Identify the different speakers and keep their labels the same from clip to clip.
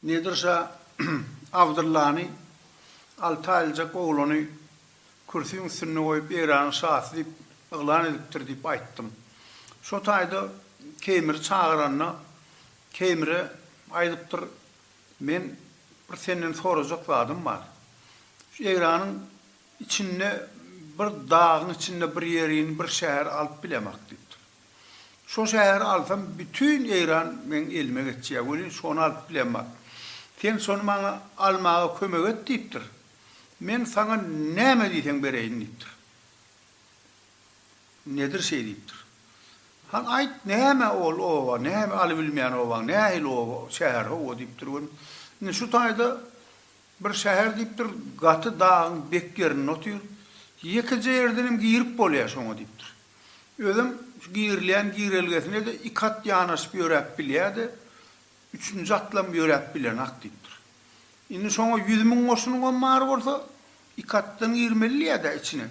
Speaker 1: Nedir şa Abdyllany, alty aýlyjak oglany kürsüň üstünde goýup Eýranyň şasy diýip yglan edipdir diýip aýtdym. Şo taýda Keýmiri çagyranda Keýmire aýdypdyr, Men bir senden sorajak zadym bar. Şu Eýranyň içinde bir dagyň içinde bir ýerini bir şäher alyp bilemak diýipdir. Şo şäheri alsam bütin Eýran meň elime geçýär welin şony alyp bilemak. Sen şony maňa almaga kömek et diýipdir. Men saňa näme diýseň bereýin diýipdir. Nedir şeý diýipdir. Han, aýt, näme ol oba, näme aly bilmeýän obaň, nähili oba, şäher, hawa, diýipdir gün. Indi şu taýda bir şäher diýipdir, gaty dagyň bek ýerinde otyr. Ýekeje ýerdenem girip bolýar şoňa diýipdir. Özem şu girilýän girelgesine-de iki at ýanaşyp ýöräp bilýär-de, Üçünji atlam ýöräp bilenok diýipdir. Indi şoňa ýüz müň goşunyňam bar bolsa, iki atdan girmelidiýä-dä içine.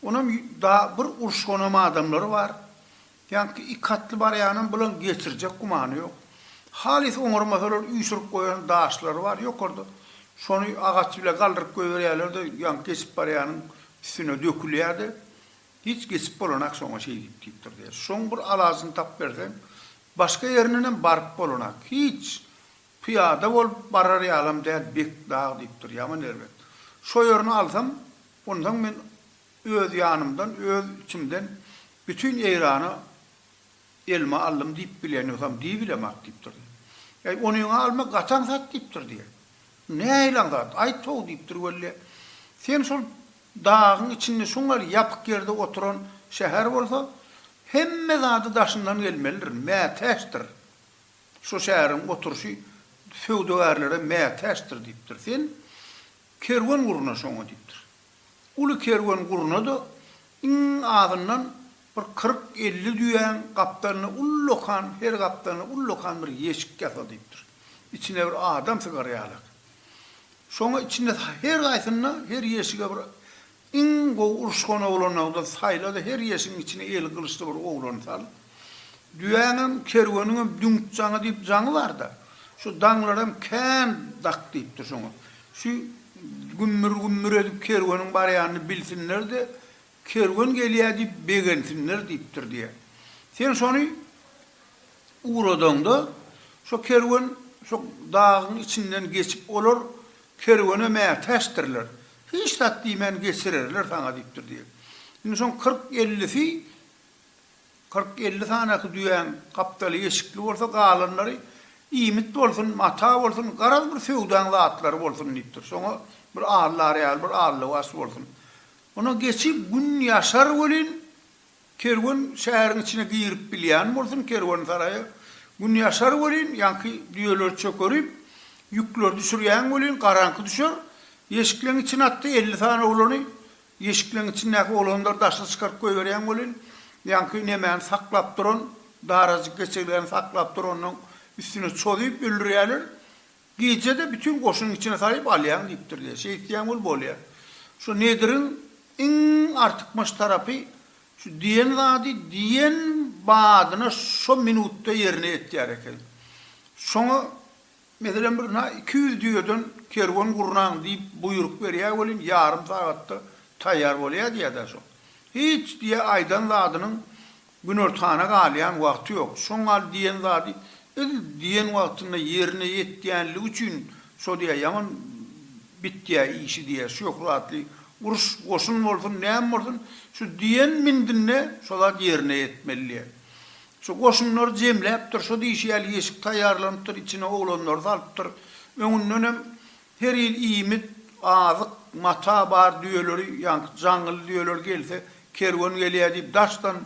Speaker 1: Onam da bir uruşganam adamlary bar. Ýaňky iki atly barýanam bilen geçirjek gümany ýok. Halys oňarmasalar üýşürip goýan daşlary bar ýokarda. Şony agaç bile galdyryp goýberýärler-de, ýaňky geçip barýanyň üstüne dökülýär-de, hiç geçip bolanok şoňa şeýdip diýipdir diýýär. Şoň bir alajyny tapyberseň, Başga ýerindenem baryp bolanak. Hiç, pyýada bolup barar ýalam däl Bekdag diýipdir, ýaman erbet. Şo ýerini alsam, onsoň men öz ýanymdan, öz içimden bütin Eýrana elime aldym diýip bilýän ýogsam, diýibilemak diýipdir. Äý, onyňa alma gaty aňsat diýipdir diýen. Nähili aňsat? Aýt-how diýipdir welle. Sen şol Dagyň içinde şoňal ýapyk ýerde oturan şäher bolsa, hemme zady daşyndan gelmelidir, mätäçdir. Şu şäheriň oturyşy söwdagärlere mätäçdir diýipdir. Sen kerwen gurna şoňa diýipdir. Uly kerwen gurna-da iň azyndan bir kyrk-elli düýäň gapdalyna ullakan, her gapdalyna ullakan bir ýeşik ýasa diýipdir. Içine bir adam sygar ýalak. Şoňa içinde her gaýsynda her ýeşige bir iň gowy uruşgan oglanlardan saýla-da her ýeşigiň içine eli gylyçly bir oglany sal. Düýäňem, kerweniňem düňk jaňy diýip jaňy bar-da. Şu daňlar hem kän dak diýipdir şoňa. Şu gümmür-gümmür edip kerweniň barýanyny bilsinler-de, Kerwen gelýär diýip begensinler diýipdir diýýär. Sen şony ugradaňda, şo kerwen şo dagyň içinden geçip, olar kerwene mätäçdirler. Hiç zat diýmän geçirerler saňa diýipdir diýýär. Indi şoň kyrk-ellisi, kyrk-elli sanaky düýäň gapdaly eşikli bolsa, galanlary iýmit bolsun, mata bolsun, garaz bir söwdaň zatlary bolsun diýipdir. Şoňa bir allar ýaly bir allybaş bolsun. Ony geçip gün ýaşar welin, kerwen şäheriň içine girip bilýän bolsun, kerwensaraýa gün ýaşar welin, ýaňky düýeleri çökerip, ýükleri düşürýän welin, garaňky düşer. Ýeşikleň içine atdy elli sany oglany, ýeşikleň içindäki oglanlary daşa çykaryp goýberýän welin, ýaňky nemäni saklap duran, darajyk geçegläni saklap duranlaň üstüne çozup öldürýärler. Gije-de bütin goşuny içine salyp alýaň diýipdirler. Şeýtseň wul bolýar. Şu Nediriň iň artykmaç tarapy şu diýen zady diýen badyna şo minutda ýerine ýetýär eken. Şoňa, meselem, bir na iki ýüz düýeden kerwen gurnaň diýip buýruk berýär welin, ýarym sagatda taýýar bolýar diýýär-dä şo. Hiç diýýär aýdan zadynyň Günortana galýan wagty ýok. Şoň al diýen zady yz diýen wagtynda ýerine ýetýänligi üçin şo diýýär, ýaman bitýär işi diýýär, şöhratly uruş, goşun bolsun, näme bolsun, şu diýen mindinde şo zat ýerine ýetmeli diýýär. Şu goşunlary jemläpdir, şo diýşi ýaly ýeşik taýýarlanypdyr, içine oglanlary salypdyr. Öňündenem Her ýyl iýmit, azyk, mata bar düýeleri, ýaňky jaňgyly düýeleri gelse, kerwen gelýär diýip daşdan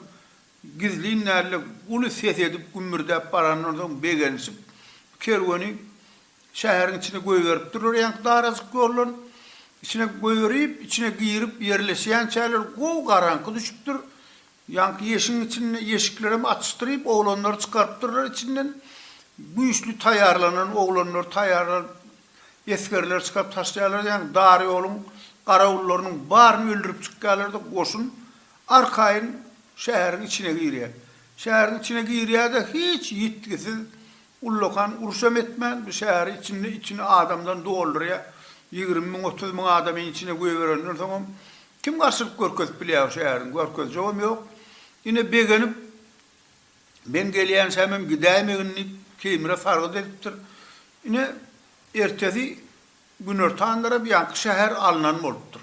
Speaker 1: gizlin dälde uly ses edip gümmürdäp barandan soň begenişip, kerweni şäheriň içine goýberipdirler ýaňky darajyk ýoldan. Içine goýberip, içine girip ýerleşýänçäler gowy garaňky düşüpdir. Ýaňky ýeşigiň içinde ýeşiklerem açyşdyryp, oglanlary çykarypdyrlar içinden. Güýçli taýýarlanan oglanlary taýýarlanyp, esgerleri çykaryp taşlaýarlar. Ýaňky dar ýoluň garawullarynyň baryny öldürip çykýarlar-da, goşun arkaýyn şäheriň içine girýär. Şäheriň içine girýär-de, hiç ýitgisiz, ullakan uruşam etmän, bu şäheri içinde içini adamdan doldurýar. Ýigrimi müň, otuz müň adamy içine goýberenden soňam, Kim garşylyk görkezip bilýär şu äriň görkezjegem ýok. Ine begenip Men gelýänçämem gidäýmegin diýip Keýmire sargyt edipdir. Ine ertesi günortan tarap ýaňky şäher alnan bolupdyr.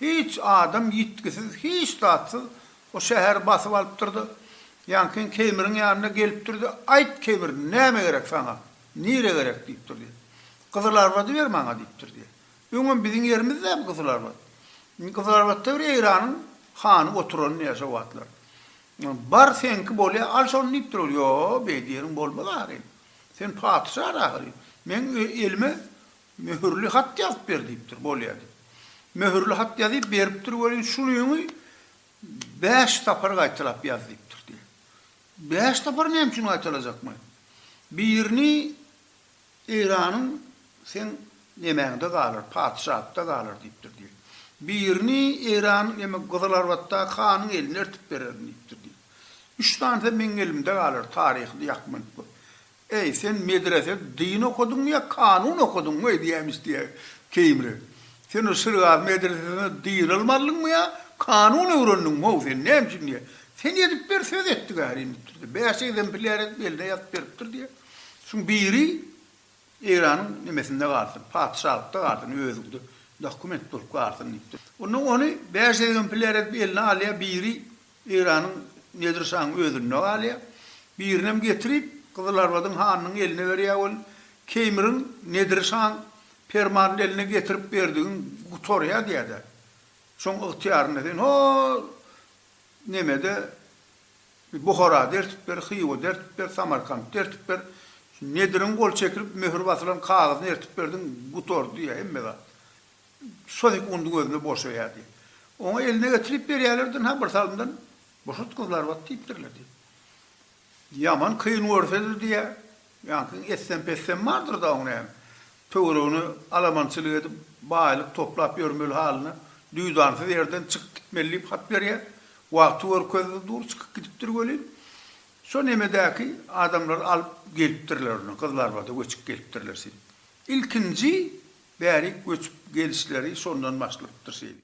Speaker 1: Hiç adam ýitgisiz hiç zatsyz o şäheri basyp alypdyrda ýaňky Keýmiriň ýanyna gelipdirde Aýt Keýmir näme gerek saňa? Nire gerek diýipdir diýe. Gyzylarbady ber maňa diýipdir diýe. Öňem biziň ýerimiz däl Gyzylarbat. Gyzylarbatda bir Eýranyň hany oturan diýýär şo wagtlar. Bar seňki bolýar, al şony diýipdir ol. Ýo, beýdi ýeriň bolmaz ahyryn. Sen patyşadyr ahyryn. Meň elime möhürli hat ýazyp ber diýipdir, bolýar diýip. Möhürli hat ýazyp beripdir welin şuny bäş sapar gaýtalap ýaz diýipdir diýýär. Bäş sapar näme üçin gaýtalajakmy? Birini Eýranyň seň nemäňde galar, patyşaatda galar diýipdir diýip. Birini Eýranyň eme Gyzylarbatdaky hanyň eline ertip bererin diýipdir diýip. Üç sanysy meň elimde galar, taryhy ýakmanyp gör. Äý, sen medrese, dyn okadyňmy ýa kanun okadyňmy diýäýmiş diýýär Keýmire. Sen o şirgazy medresesinde dyn ylym aldyňmy ýa kanun öwrendiňmi-ow sen, näme üçin diýýär. Sen edip ber, söz etdik ärin diýipdir diýip. Bäş egzemplýar edip eline ýazyp beripdir diýip. Şuň biri Eýranyň nemesinde galsyn, patyşalykda galsyn, özüňde dokument bolup galsyn diýipdir. Onda ony bäş egzempilýar edip eline alýar, biri Eýranyň Nedir şahyň özünde galýar, birinem getirip Gyzylarbadyň hanynyň eline berýär we Keýmiriň Nedir şaň permanyny eline getirip berdigiň gutarýar diýär-de, şoň ygtyýarynda sen hol nemede Buhara dertip ber, Hywa dertip ber, Samarkant dertip ber. Şu Nediriň gol çekilip, möhür basylan kagyzyny ertip berdiň, gutardy hemme zat. Şo sekundyň özünde boşaýar diýip. Oňa eline getirip berýärler dynha bir salymdan, Boşat gyzlarbat diýipdirler diýip. Ýaman kyn görse-de diýýär, Ýaňkyň essem-pessem bardyr-da oň näme? Töweregine alamançylyk edip, baýlyk toplap ýörmeli halyna, duýdansyz ýerden çykyp gitmeli diýip hat berýär. Wagty görkezdi dur, çykyp gidipdir welin, şo nemedäki adamlar alyp gelipdirler ony, Gyzlarbada göçüp gelipdirler şeýdip. Ilkinji bärik göçüp gelişleri şondan başlapdyr şeýdip.